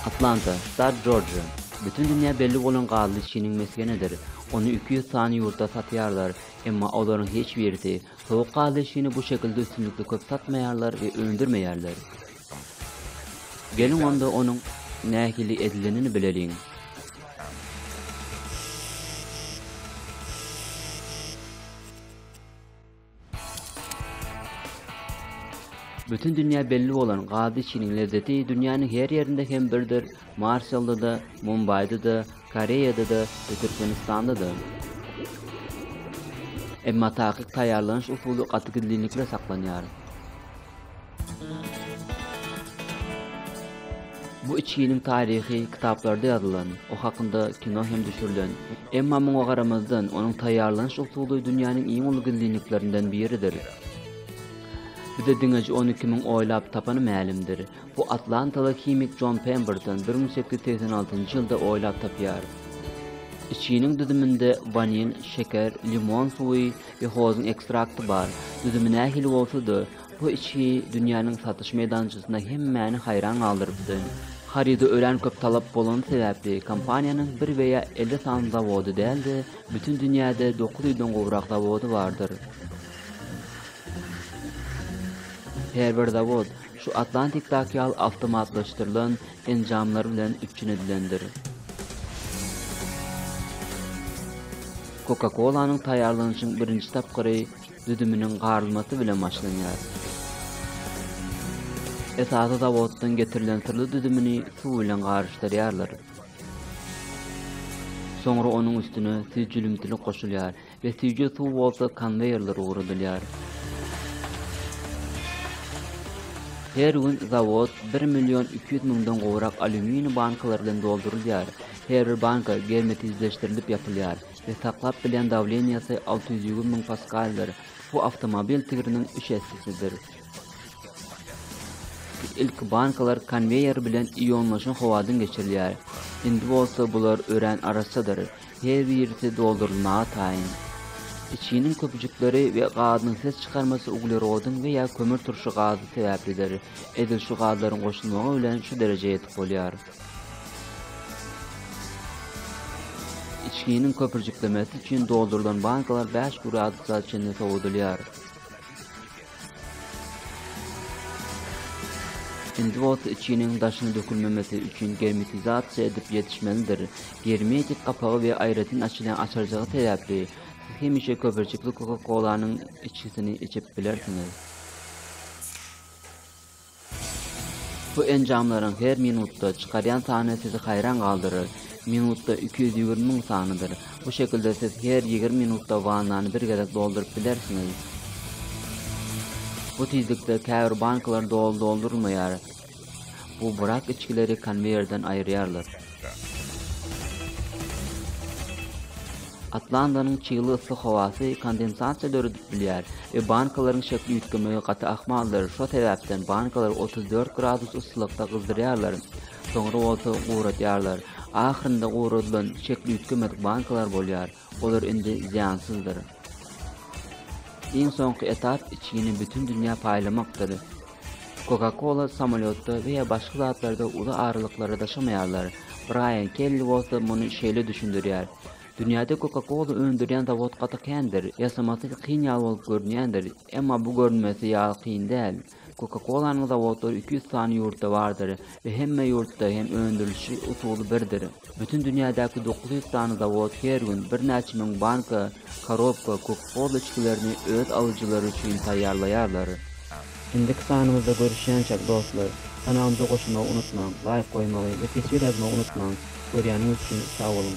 Atlanta, ştat Jorjiýa. Bütin dünýä belli bolan gazly çiniň mesgenidir. Ony iki ýüz sany ýurtda satýarlar, emma olaryň hiç birisi sowuk gazly çini bu şekilde üstünlikli köp satmaýarlar we öndürmeýärler. Geliň onda onuň nähili edilenini bileliň. Bütin dünýä belli bolan gazy içginiň lezzeti dünýäniň her ýerinde hem birdir, Marshalda-da, Mumbaýda-da, Koreýada-da we Türkmenistanda-da. Emma takyk taýýarlanyş usuly gaty gizlinlikde saklanýar. Bu içginiň taryhy kitaplarda ýazylan, o hakynda kino hem düşürilen. Emma muňa garamazdan, onuň taýýarlanyş usuly dünýäniň iň uly gizlinliklerinden biridir. Bize diňeje ony kimiň oýlap tapany mälimdir. Bu atlantaly himik Jon Pemberton bir müň sekiz ýüz segsen altynjy ýylda oýlap tapýar. Içginiň düzüminde wanil, şeker, limon suwy we hozuň ekstrakty bar. Düzümi nähili bolsa-da, Bu içgi dünýäniň satyş meýdançasynda hemmäni haýran galdyrypdy. Haryda örän köp talap bolany sebäpli, kompaniýanyň bir we ýa elli sany zawody däl-de, bütin dünýäde dokuz ýüzden gowrak zawody bardyr. Her bir zawod şu Atlantikdaky ýaly awtomatlaşdyrylan enjamlar bilen üpjün edilendir. Coca-Cola-nyň taýýarlanyşyň birinji tapgyry düzüminiň garylmasy bilen başlanýar. Esasy zawoddan getirilen syrly düzümini suw bilen garyşdyrýarlar. Soňra onuň üstüne süýjülimtilik goşulýar we süýje suw bolsa konweýerlere ugradylýar. Her gün zawod bir million iki ýüz müňden gowrak alýuminiý bankalary bilen doldurylýar. Her bir banka germetizleşdirilip ýapylýar. we saklap bilýän dawleniýasy alty ýüz ýigrimi müň paskaldyr. Bu awtomobil tigriniň üç essesidir. Ilki bankalar konweýer bilen ionlaşan howadan geçirilýär. Indi bolsa bular örän arassadyr, her birisi doldurylmaga taýyn. Içiniň köpüjikleri we gazynyň ses çykarmasy uglerodyň we ýa kömür turşy gazy sebäplidir. Edil şu gazlaryň goşulmagy bilen şu derejä ýetip bolýar. Içginiň köpürjiklemesi üçin doldurylan bankalar bäş gradusa çenli sowadylýar. Indi bolsa içginiň daşyna dökülmemesi üçin germetizasiýa edip ýetişmelidir. Germetik gapagy we aýratyn açylýan açarjygy sebäpli, siz hemişe köpürjikli koka-kolanyň içgisini içip bilersiňiz. Bu enjamlaryň her minutda çykarýan sany sizi haýran galdyrar. Minutda iki ýüz ýigrimi müň sanydyr. Bu şekilde siz her ýigrimi minutda wannany bir gezek dolduryp bilersiňiz. Bu tizlikde käbir bankalar doly doldurylmaýar. Bu burak içgileri konweýerden aýyrýarlar. Atlanta. Atlantanyň çygly yssy howasy kondensasiýa döredip bilýär we bankalaryň şekli üýtgemegi gaty ahmaldyr, şo sebäpden bankalary 34 gradus yssylykda gyzdyrýarlar, soňra bolsa guradýarlar. Ahyrynda guradylan şekli üýtgemedik bankalar bolýar. Olar indi zyýansyzdyr. Iň soňky etap içgini bütin dünýä paýlamakdyr. Coca-Cola samolýotda we ýa başga zatlarda uly aralyklara daşamaýarlar. Braýan Kelli bolsa muny şeýle düşündirýär, Dünýäde Coca-Cola öndürýän zawod gaty kändir. Ýasamasy kyn ýaly bolup görünýändir, emma bu görünmesi ýaly kyn däl. Koka-kolanyň zawodlary iki ýüz sany ýurtda bardyr we hemme ýurtda hem öndürilişi usuly birdir. Bütin dünýädäki dokuz ýüz sany zawod her gün birnäçe müň banka, korobka, koka-kola içgilerini öz alyjylary üçin taýýarlaýarlar. Indiki sanymyzda görüşýänçäk dostlar, kanalymyza goşulmagy unutmaň, laýk goýmagy we teswir ýazmagy unutmaň, görýäniňiz üçin sag boluň!